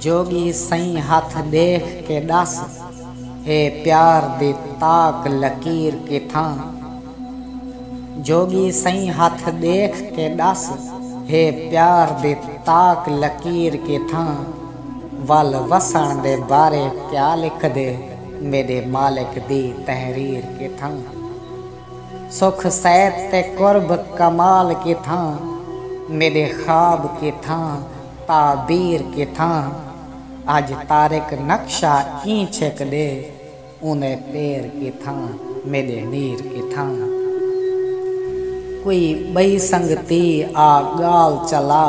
جوڳی سئیں ہتھ ݙیکھ کے ݙس ہے پیار دی تاک لکیر کتھاں جوڳی سئیں ہتھ ݙیکھ کے ݙس ہے پیار دی تاک لکیر کتھاں۔ ول وسݨ دے بارے پیا لکھدے میݙے مالک دی تحریر کتھاں سکھ سیت تے قرب کمال کتھاں میݙے خواب کتھاں تعبیر کتھاں اڄ طارق نقشہ ایں چھک ݙے اوندے پیر کیتھاں میݙے نیر کیتھاں۔ کوئی ٻئی سنگتی آ ڳالھ چلا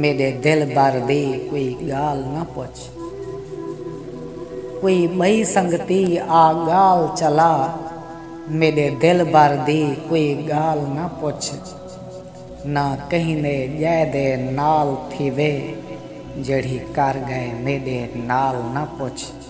میݙے دلبر دی کوئی ڳالھ نہ پچھ۔ کوئی ٻئی سنگتی آ ڳالھ چلا میݙے دلبر دی کوئی ڳالھ نہ پچھ۔ نہ کہیندے ڄئے دے نال تھیوے جیڑھی کر ڳئے میݙے نال نہ پچھ۔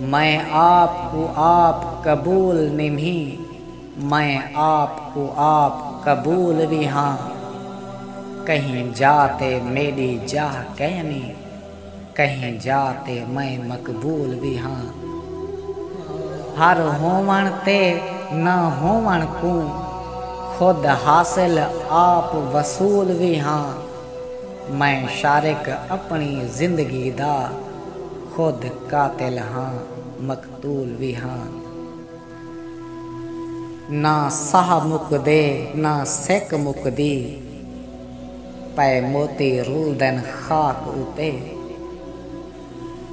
میں آپ کوں آپ قبول نمھیں میں آپ کوں آپ قبول وی ہاں کہیں جا تے میڈی جاہ کینی کہیں جا تے میں مقبول وی ہاں ہر ہوون تے نہ ہوون کوں خود حاصل آپ وصول وی ہاں۔ میں شارق اپݨی زندگی دا خود قاتل ہاں مقتول وی ہاں۔ نہ ساہ مکدے نہ سک مکدی پئے موتی رلدن خاک اتے۔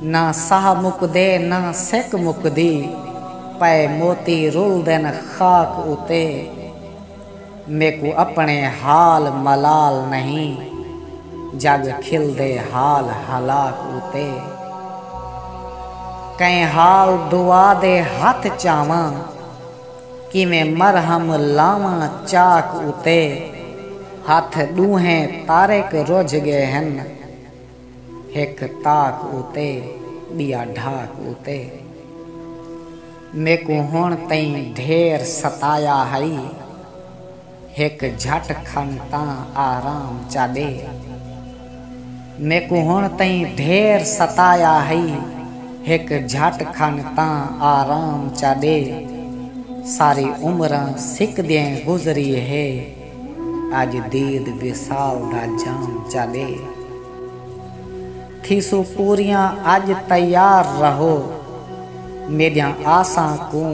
نہ ساہ مکدے نہ سک مکدی پئے موتی رلدن خاک اتے۔ میکوں اپݨے حال ملال نئیں جڳ کھلدے حال ہلاک اتے کئیں حال دعا دے ہتھ چاواں کیویں مرہم لاواں چاک اتے ہتھ ݙونہیں تارک رجھ ڳئے ہن۔ ہک طاق اتے ٻیا ڈھاک اتے۔ میکوں ہݨ تئیں ڈھیر ستایا ہئی۔ ہک جھٹ کھن تاں آرام چا ݙے۔ میکوں ہݨ تئیں ڈھیر ستایا ہئی۔ ہک جھٹ کھن تاں آرام چا ݙے۔ ساری عمراں سکدیں گزری ہے۔ اڄ دید وصال دا جام چا ݙے۔ تھیسوں پوریاں اڄ تیار رہو۔ میݙیاں آساں کوں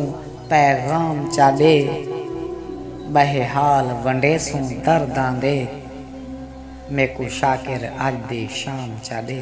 پیغام چا ݙے۔ ٻہے حال ونڈیسوں درداں دے۔ میکوں شاکر اڄ دی شام چا ݙے۔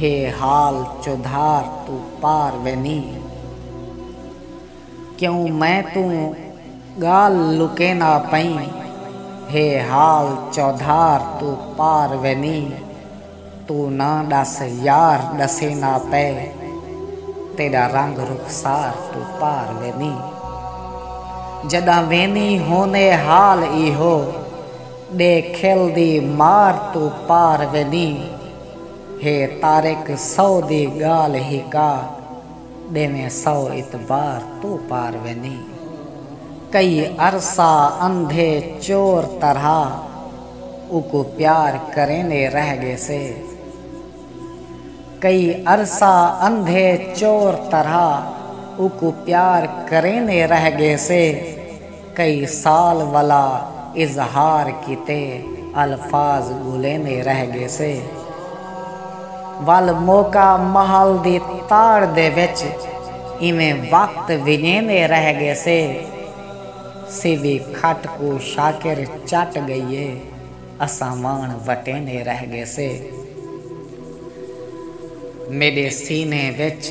ہے حال چودھار توں پار وینی کیوں میں توں گال لکینا پئیں ہے حال چودھار توں پار وینی توں نہ ڈس یار ڈسینا پئے تیڈا رنگ رخسار توں پار وینی جڈاں وینی ہونے حال ایہو ڈے کھل دی مار توں پار وینی۔ ہے طارق سو دی ڳالھ ہی کا ݙیویں سو اتبار تو پار ویندیں کئی عرصہ اندھے چور طرح اوکوں پیار کریندے رہ ڳیسے کئی عرصہ اندھے چور طرح اوکوں پیار کریندے رہ ڳیسے۔ کئی سال ولا اظہار کیتے الفاظ گولیندے رہ گیسے۔ ول موقع محل دی تاڑ دے وچ ایویں وقت ونڄیندے رہ گیسے۔ سیوی کھٹ کوں شاکر چٹ ڳئیے اساں واݨ وٹیندے رہ گیسے۔ میݙے سینے وچ۔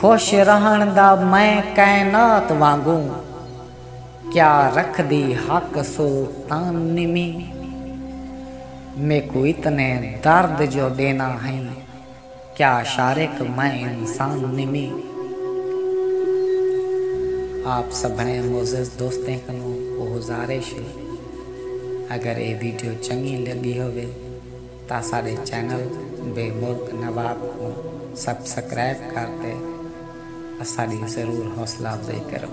خوش رہݨ دا میں کائنات وانگوں کیا رکھدی حق سلطان نمی میکوں اتنے درد جو ݙینا ہئیں کیا شارق میں انسان نمی آپ سبھݨے معزز دوستیں کنوں گزارش ہے اگر اے ویڈیو چنگی لڳی ہووے تاں ساڈے چینل بے ملک نواب کوں سبسکرائب کر تے اساڈی ضرور حوصلہ افزائی کرو۔